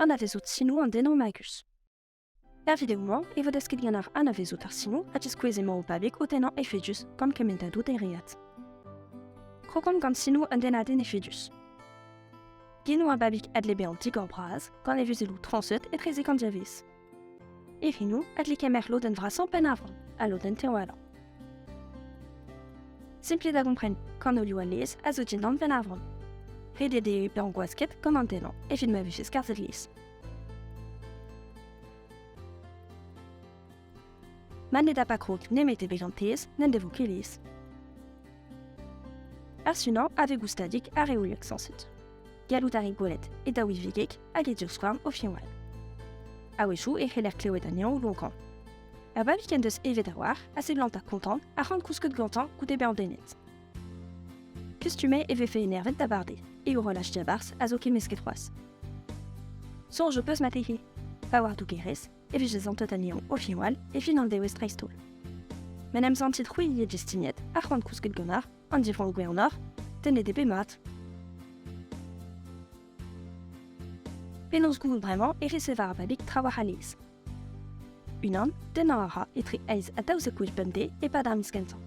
Anavezout sinoù an den magus. Er video-mañ e vo desket ganeoc'h anavezout ar sinoù ha diskouez emañ o pabig o tennañ efedus gant kementadoù dereat. Krokomp gant sinoù un dennadenn efedus. Genou ar babig a dle bezañ digor-bras gant e vuzelloù trañset etrezek an diavez. E Rinou a dle kemer lodenn vrasañ Penavran ha lodenn Tewalan. Simplet da gompren, kanolioù anez a zo dindan Penavran. Redet eo pe angwasket gant an denañ evit ma vefe skarzhet lies. Ma ne da pa krog nemet e bejantez n'en devo ket lies. Ar sunañ a vez goustadik ar reoliek sañset. Gallout a rit gwelet e daouidigek hag e divskouarn o finwal. A-wechou e c'heller klevet anezhañ lonkañ. A vabig en deus evet a-walc'h a seblant ar kontant a c'han kousket gantañ goude bezañ denet. Kustumet e vefe enervet da barde, e horolaj diabarzh a zo kemmesket c'hoazh. Soñj ho peus matehe. Pa war dougerez, e vije zantet anezhañ o finwal e fin an dewez dreist-holl. Ma n'em santit c'hwi e destiniet ar c'hoant kousket gant ar, an divroñ gwernoc'h, tennet eo bet mat. Penaos gouzout bremañ e resever ar babig trawalc'h a-nes. Unan, tennañ a ra etre eizh ha daouzek gwech bemdez e-pad ar miz kentañ.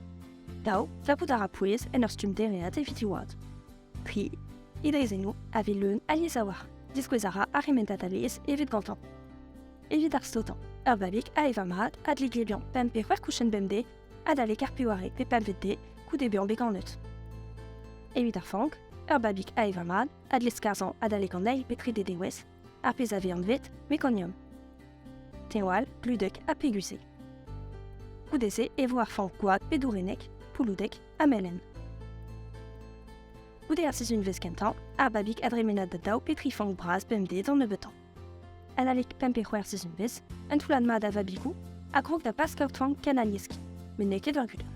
Daou, verbout a ra pouez en ur stumm dereat evit he oad. Tri, he draezhennoù a vez leun alies a-walc'h. Diskouez a ra ar remedad alies evit gantañ. Evit ar stotañ, ur babig a evañ mat a dle glebiañ pemp pe c'hwec'h kouchenn bemdez adalek ar pevare pe pempvet de goude bezañ bet ganet. Evit ar fank, ur babig ae va mad a dle skarzhañ adalek an eil pe trede dewezh, ar pezh a vez anvet mekonium. Teñwal, gludek ha pegus eo. Goude-se e vo ar fank gwad pe dourennek, pouloudek ha melen. Goude ar sizhunvezh kentañ, ar babig a dremenad da daou pe tri fank bras bemdez an nebeutañ. En alik pemp e c'hwec'h sizhunvezh, un toullad mat a vabigoù a grog da bask ur toan ken alieski, met n'eo ket ur gudenn.